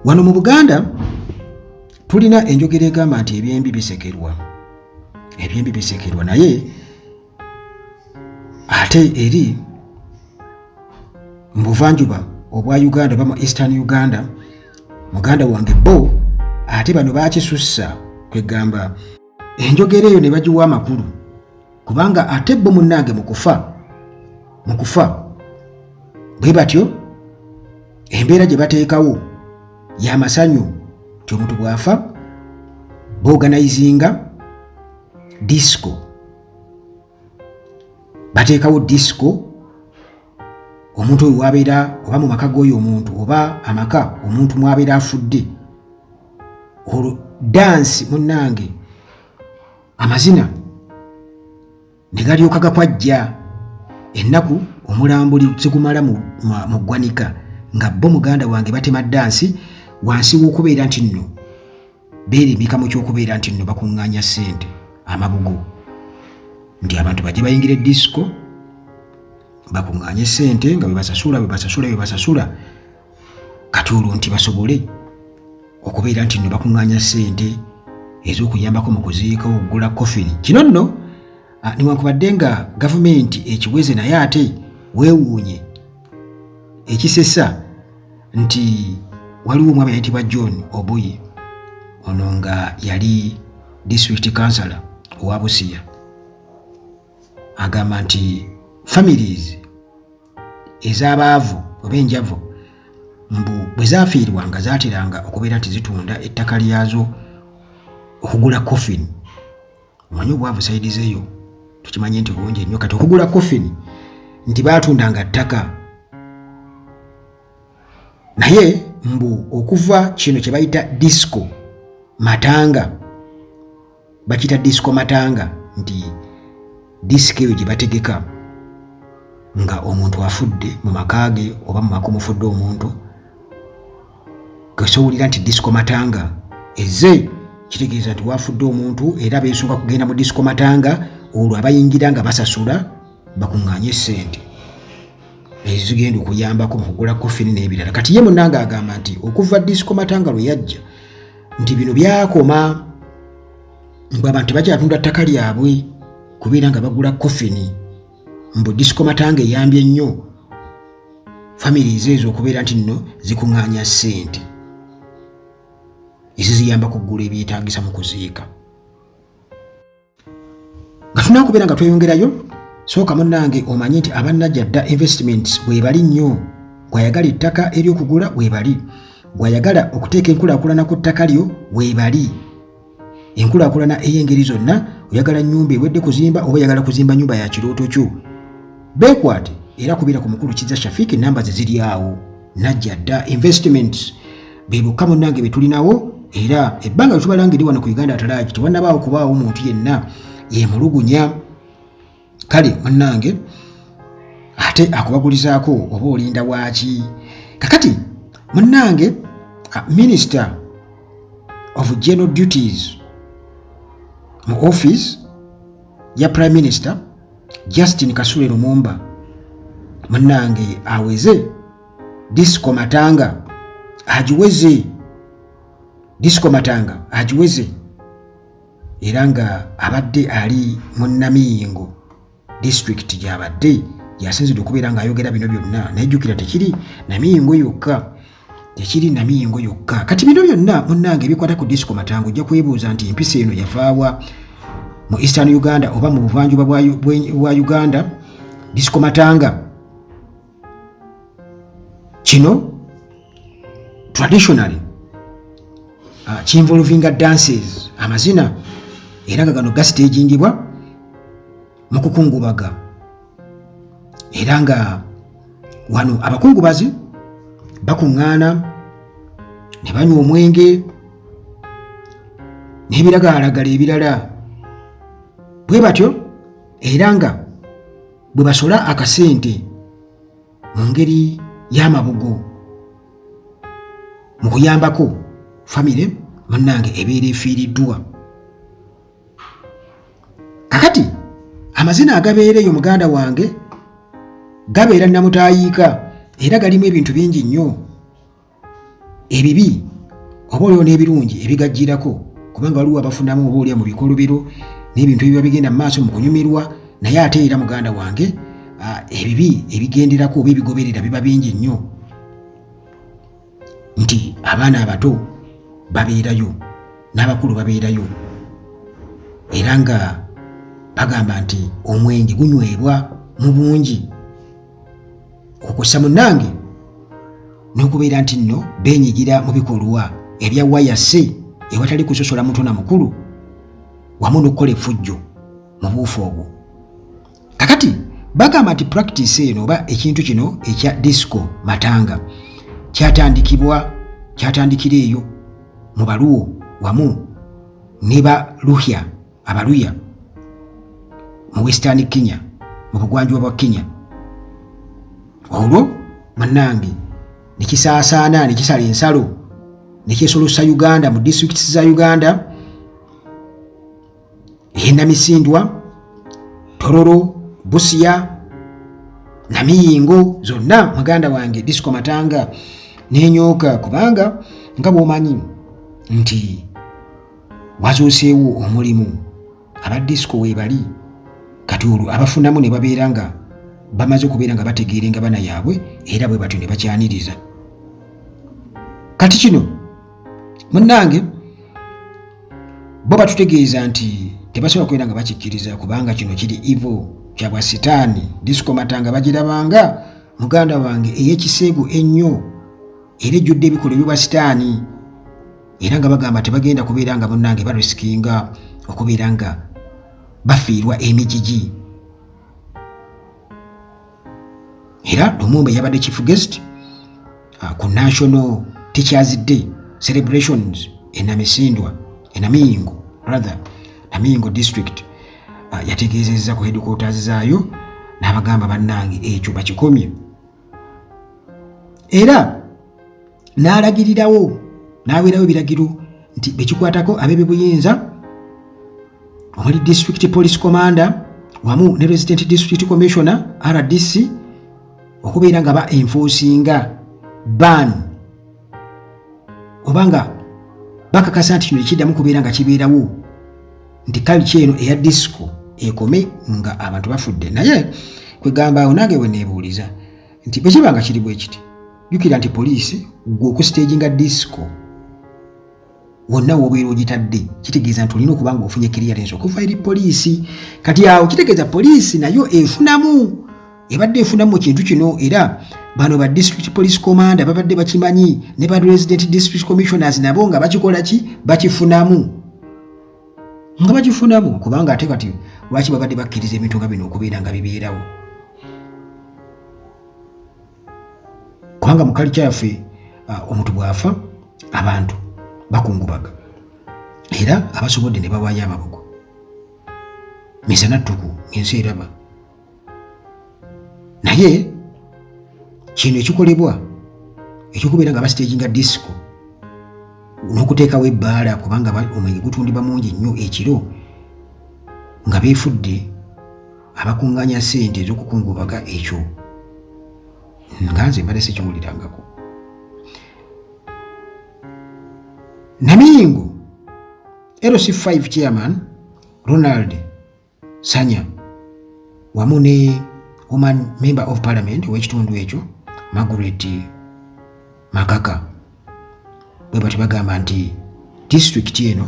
wano mu buganda tulina enjogera egamba nti ebyembi bisekerwa ebyembi bisekerwa naye ate eri mu buvanjuba obwa uganda oba mu eastern uganda muganda wange bo ate bano bakisussa kwegamba enjogera eyo ne bagiwa amakulu kubanga ate bo munnange mu kufa mu kufa bwe batyo embeera gye bateekawo y'amasanyu nti omuntu bw'afa booganayizinga disco bateekawo disco omuntu oyo wabeera oba mu maka g'oyo omuntu oba amaka omuntu mwabeera afudde olwo dansi munnange amazina ne galyoka gakwajja ennaku omulambo zigumala mu ggwanika nga bo muganda wange batema dansi wansi w'okubeera nti nno beerimbika mu ky'okubeera nti nno bakuŋŋaanya ssente amabugo nti abantu bajje bayingire disiko bakuŋŋaanye ssente nga bebasasula bebasasula bebasasula kati olwo nti basobole okubeera nti nno bakuŋŋaanya ssente ez'okuyambako mu kuziika okugula kofini kino nno ah, newankubadde nga gavumenti ekiweze naye ate weewuunye ekisesa nti waliwo omwami ayitibwa john obuyi ono nga yali district councilor owa busiya agamba nti families ez'abaavu oba enjavu mbu bwe zaafiirwanga zaateranga okubeera nti zitunda ettaka lyazo okugula coffin omanyi obwavu sayidi zeeyo tukimanye nti bungi nnyo kati okugula coffin nti baatundanga ttaka naye mbu okuva kino kye bayita disco matanga bakita disco matanga nti disiko eyo gye bategeka nga omuntu afudde mu maka ge oba mu maka omufudde omuntu kesowulira nti disiko matanga eze kitegeeza nti wafudde omuntu era beesunga kugenda mu disiko matanga olwo abayingira nga basasula bakuŋŋaanye essente ezigenda okuyambako mu kugula kofini n'ebirala kati ye munanga agamba nti okuva disiko matanga lwe yajja nti bino byakoma mbu abantu tebakyatunda ttaka lyabwe kubeera nga bagula kofini mbu disiko matanga eyambye ennyo famire ezeezo okubeera nti nno zikuŋŋaanya ssente eziziyamba kuggula ebyetaagisa mu kuziika nga tulina okubeera nga tweyongerayo sooka munnange omanye nti abannajja dda investments bwebali nnyo bwayagala ettaka eryokugula bwebali bwayagala okuteeka enkulaakulana ku ttaka lyo bwebali enkulaakulana ey'engeri zonna oyagala nnyumba ewedde kuzimba oba oyagala kuzimba nnyumba ya kirooto kyo beekwate era kubeera ku mukulu kiza shafiki namba ze ziri awo najja dda investments be bokka munnange be tulinawo era ebbanga lye tubala ngeri wano ku uganda atalaagi tewanabaawo kubaawo muntu yenna yemulugunya kale munnange ate akubagulizaako oba olinda waaki kakati munnange ah, minister of general duties mu office ya prime minister Justin Kasule Lumumba munange aweze disco matanga agiweze disco matanga agiweze era nga abadde ali mu namiyingo disitulikiti gyabadde yasinzidde okubeera ng'ayogera bino byonna naye jjukira tekiri namiyingo yokka tekiri namiyingo yokka kati bino byonna munnange ebikwata ku disco matango ojja kwebuuza nti empisa eno yavaawa mu eastern uganda oba mu buvanjuba bwa uganda disco matanga kino traditionally uh, kinvolvinga dances amazina era nga gano gasitejingibwa mu kukungubaga era nga wano abakungubazi bakuŋŋaana ne banywa omwenge n'ebiragalalagala ebirala bwe batyo era nga bwe basola akasente mu ngeri y'amabugo mu kuyambako famire munnange ebeera efiiriddwa kakati amazina agabeera eyo muganda wange gabeera namutayiika era galimu ebintu bingi nnyo ebibi oba olio n'ebirungi ebigajjirako kubanga waliwo abafunamu oba olya mu bikolobero n'ebintu ebiba bigenda mu maaso mu kunyumirwa naye ate era muganda wange ebibi ebigenderako oba ebigoberera biba bingi nnyo nti abaana abato babeerayo n'abakulu babeerayo era nga bagamba nti omwenge gunywebwa mu bungi okussa munnange n'okubeera nti nno beenyigira mu bikolwa ebya wayase ewatali kusosola muto na mukulu wamu n'okukola effujjo mu buufu obwo kakati bagamba nti practice eno oba ekintu kino ekya disco matanga kyatandikibwa kyatandikira eyo mu baluwo wamu ne baluhya abaluya mu western kenya mu bugwanjuba bwa kenya olwo munange nekisaasaana nekisala ensalo nekyesolosa uganda mu districts za uganda e Namisindwa, Tororo, Busia, Namiyingo zonna muganda wange Disco Matanga nenyooka kubanga nga bwomanyi nti wazuuseewo omulimu aba disco webali kati olwo abafunamu ne babeera nga bamaze okubeera nga bategeera engabana yaabwe era bwe batyo ne bakyaniriza kati kino munnange bo batutegeeza nti tebasobola kubeera nga bakikkiriza kubanga kino kiri ivo kyabwa sitaani disikomata nga bagirabanga muganda wange ey'ekiseegu ennyo era ejjudde ebikolwa ebyobwa sitaani era nga bagamba tebagenda kubeera nga munnange barisikinga okubeera nga bafiirwa emijiji era lumumba yabadde chief guest uh, ku national teachers day celebrations enamisindwa enamiyingo rather namiyingo district uh, yategeezezza ku headquarters zaayo n'abagamba bannange ekyo bakikomye era n'alagirirawo n'aweerawo ebiragiro nti bekikwatako ab'ebyobuyinza omuli district police commander wamu ne resident district commissioner rdc okubeera nga ba enfosinga ban oba nga bakakasa nti kino ekiddamu kubeera nga kibeerawo nti kaliki eno eya disco ekome nga abantu bafudde naye kwegamba awo nange weneebuuliza nti bwekiba nga kiri bwekiti jukira nti poliisi gwe okusiteginga disco wonna wobeera ogitadde kitegeeza nti olina okuba nga ofunye kiriyarensi okuva eri poliisi kati awo kitegeeza poliisi nayo efunamu ebadde efunamu kintu kino era bano ba district police commander babadde bakimanyi ne ba resident district commissioners nabo nga bakikola ki bakifunamu nga bakifunamu kubanga ate kati lwaki babadde bakkiriza ebintu nga bino okubeera nga bibeerawo kubanga mu kalica yaffe omuntu bw'afa abantu bakungubaga era abasobodde ne bawaayo amabugo misana ttuku ng'ensi eraba naye kino ekikolebwa ekyokubeera nga basiteginga disiko n'okuteekawo ebbaala kubanga omwenge gutundibwa mungi nnyo ekiro nga beefudde abakunganya sente ezokukungubaga ekyo nga nze mbadde sikiwulirangako namingo lc5 chairman ronald sanya wamu ne oman member of parliament owekitundu ekyo margaret makaka bwe batyo bagamba nti disitulikiti eno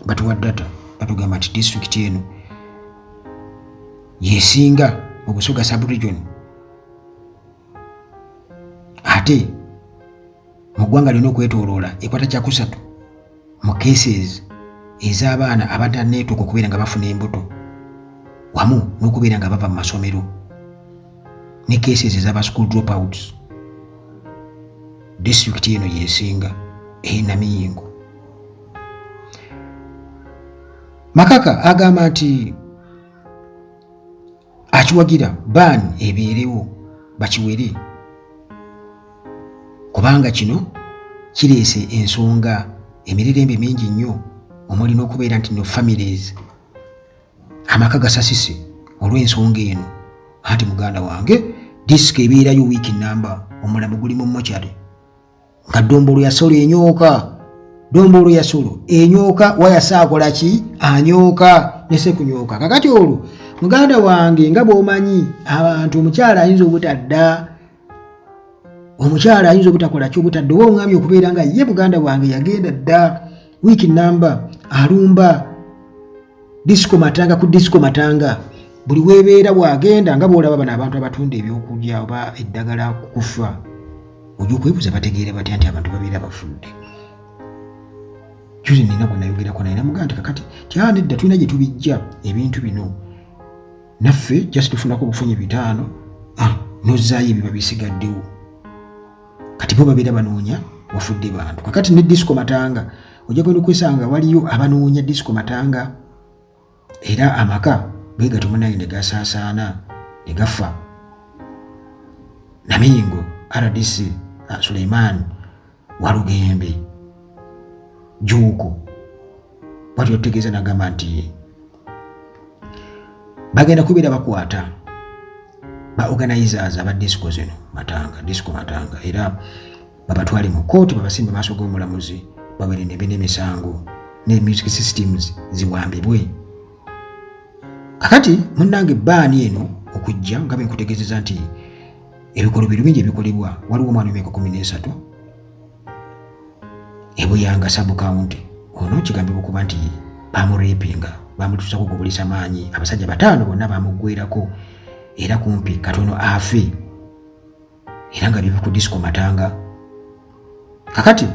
batuwa data batugamba nti disitulikiti eno yesinga mu busoga subregion ate mu ggwanga lyona okwetoloola ekwata kyakusatu mu cases ez'abaana abadde neetuuka okubeera nga bafuna embuto wamu n'okubeera nga bava mu masomero ne cases ez'aba school dropouts disitulikiti eno yesinga enamiyingo makaka agamba nti akiwagira ban ebeerewo bakiwere kubanga kino kireese ensonga emirerembe mingi nnyo omuli n'okubeera nti no families amaka gasasise olw'ensonga eno anti muganda wange disika ebeerayo wiiki namba omulambo guli mu mochari nga dombolo yasolo enyooka dombolo yasolo enyooka wayasa akola ki anyooka nese kunyooka kakati olwo muganda wange nga bwomanyi abantu omukyala ayinza obutadda omukyala ayinza obutakola ki obutadda oba oŋamye okubeera nga ye buganda wange yagenda dda wiiki namba alumba disco matanga ku disco matanga buli webeera wagenda nga bwolaba bano abantu abatunda ebyokulya oba eddagala kukufa oja okwebuza bategeere batya nti abantu babeera bafudde juzi nina gwe nayogerako naye namugaa nti kakati tyanedda tulina gye tubijja ebintu bino naffe just tufunako obufunyi bitaano ah, nozaayo ebiba bisigaddewo kati bo babeera banoonya wafudde bantu kakati ne disco matanga ojja kwenda okwesanga waliyo abanoonya disco matanga era amaka bwegatyo munaye ne gasaasaana ne gafa namingo rdc ah, suleiman walugembe juuko bwatyo tutegeeza nagamba nti bagenda kubeera bakwata ba organizers aba disco zino matanga disco matanga era babatwale mu kooti babasimbe maaso g'omulamuzi babere nebe n'emisango ne music systems ziwambibwe kakati munnange baani eno okujja nga benkutegezeza nti ebikolobero bingi ebikolebwa waliwo omwana omyaka kumi n'esatu ebuyanga sabukawunti ono kigambibwa okuba nti bamurepinga bamutuusako gubulisa maanyi abasajja bataano bonna bamuggwerako era kumpi katono afe era nga bibi ku disco matanga kakati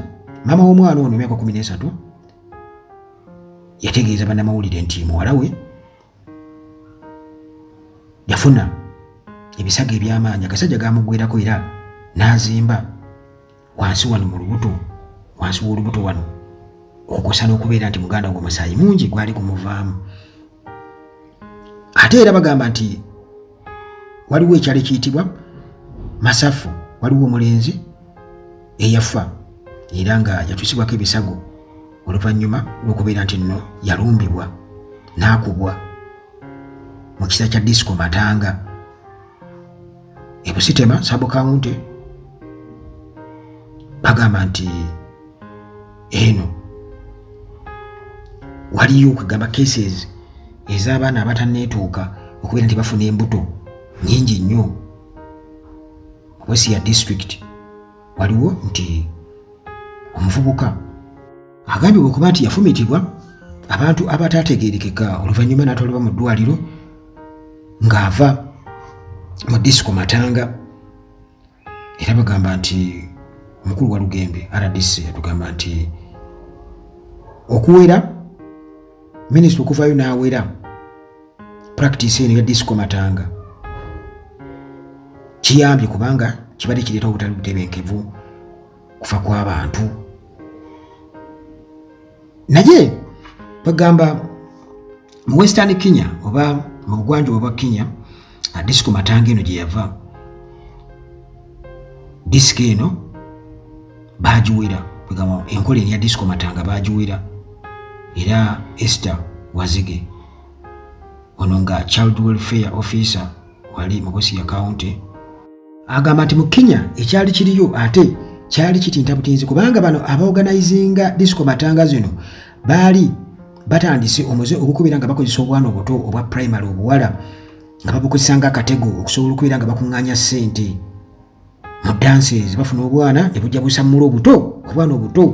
maama w'omwana ono emyaka kumi n'esatu yategeeza bannamawulire nti muwala we yafuna ebisago eby'amaanyi agasajja gaamugwerako era n'azimba wansi wano mu lubuto wansi w'olubuto wano okusa n'okubeera nti muganda gwo musaayi mungi gwali kumuvaamu ate era bagamba nti waliwo ekyalo ekiyitibwa masafu waliwo omulenzi eyafa era nga yatuusibwako ebisago oluvannyuma lw'okubeera nti nno yalumbibwa n'akubwa mu kisa kya disco matanga ebusitema sabo kawunti bagamba nti eno waliyo okugamba cases ez'abaana abataneetuuka okubeera nti bafuna embuto nyingi nnyo wesi ya district waliwo nti omuvubuka Agambibwa okuba nti yafumitibwa abantu abataategeerekeka oluvannyuma n'atwalibwa mu ddwaliro ng'ava mu disiko matanga era bagamba nti omukulu wa lugembe rdc yatugamba nti okuwera minisita okuvayo n'awera practice eno ya disco matanga kiyambye kubanga kibadde kireeta obutali butebenkevu kufa kw'abantu naye bagamba mu western kenya oba mu bugwanjuba bwa kenya disiko matanga eno gye yava disiko eno baagiwera kwegamba enkola eri ya disiko matanga baagiwera era ester wazige ono nga child welfare officer wali mu Busia County agamba nti mu Kenya ekyali kiriyo ate kyali kitinta butinzi kubanga bano abaorganizinga disco matanga zino baali batandise omuze ogukubira nga bakozesa obwana obuto obwa primary obuwala nga babukozesa nga akatego okusobola okubeera nga bakuŋŋaanya ssente mu dances bafuna obwana ne bujja busammula obuto obwana obuto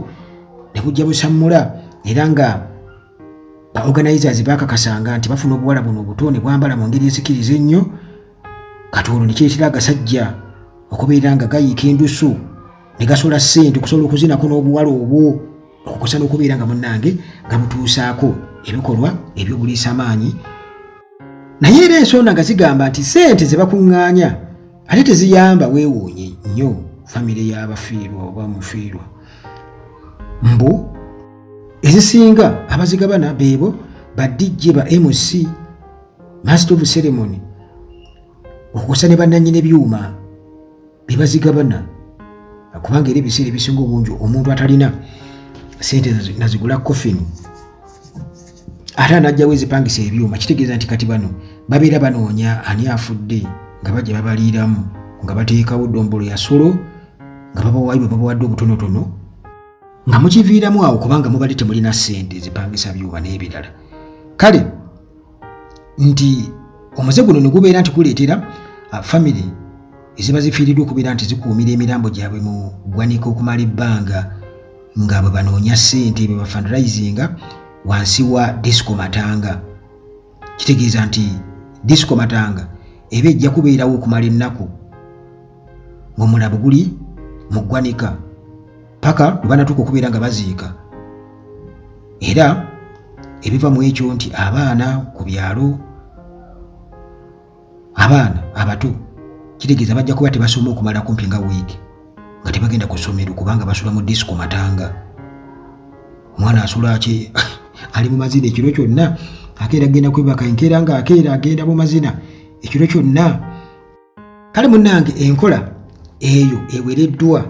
ne bujja busammula era nga ba organizers bakakasanga nti bafuna obuwala buno obuto ne bwambala mu ngeri esikiriza ennyo kati olwo ne kireetera agasajja okubeera nga gayiika endusu ne gasola ssente okusobola okuzinako n'obuwala obwo okukosa n'okubeera nga munnange nga butuusaako ebikolwa eby'obuliisa amaanyi naye era ensonda nga zigamba nti ssente ze bakuŋŋaanya ate teziyamba weewuunye nnyo famire y'abafiirwa oba mufiirwa mbu ezisinga abazigabana beebo ba dj ba mc master of ceremony okusa ne bananyini ebyuma bebazigabana kubanga era ebiseera ebisinga obungi omuntu atalina sente nazigula coffin ate anajjawo ezipangisa ebyuma kitegeeza nti kati bano babeera banoonya ani afudde nga bajja babaliiramu nga bateekawo dombolo yasolo nga babawayo bwe babawadde obutonotono nga mukiviiramu awo kubanga mubadde temulina ssente zipangisa byuba n'ebirala kale nti omuze guno ne gubeera nti guleetera uh, famire eziba zifiiriddwa okubeera nti zikuumira emirambo gyabwe mu ggwanika okumala ebbanga nga bwe banoonya ssente bwe bafandraisinga wansi wa disco matanga kitegeeza nti disco matanga eba ejja kubeerawo okumala ennaku ng'omulabu guli mu ggwanika paka lwe banatuuka okubeera nga baziika era ebiva mu ekyo nti abaana ku byalo abaana abato kitegeeza bajja kuba tebasoma okumala kumpi nga wiiki nga tebagenda ku ssomero kubanga basula mu disiko matanga omwana asula ki ali mu mazina ekiro kyonna akeera agenda kwebaka enkeera nga akeera agenda mu mazina ekiro kyonna kale munnange enkola eyo ewereddwa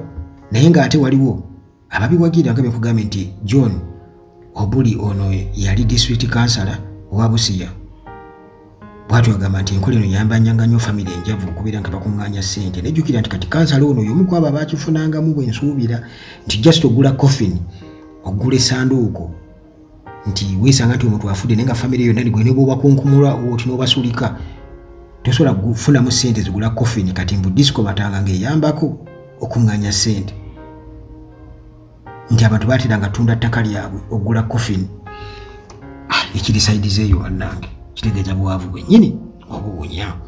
naye ng'ate waliwo ababiwagira nga bekugambe nti john obuli ono yali district kansala owa busiya bwatyo agamba nti enkola eno yambanyanga nnyo famiry enjavu okubeera nga bakuŋŋaanya ssente nejjukira nti kati kansala ono yomu ku abo abaakifunangamu bwe nsuubira nti just ogula coffin ogula esanduuko nti weesanga nti omuntu afudde naye nga famire yonna ligwe ne bwobakunkumula oti n'obasulika tosobola kufunamu ssente zigula coffin kati mbu disco batanga ng'eyambako okuŋŋanya ssente nti abantu batera nga tunda ttaka lyabwe okugula coffin ah, ekiri saidizeeyo wannange kitegeeza bwavu bwennyini obuwunya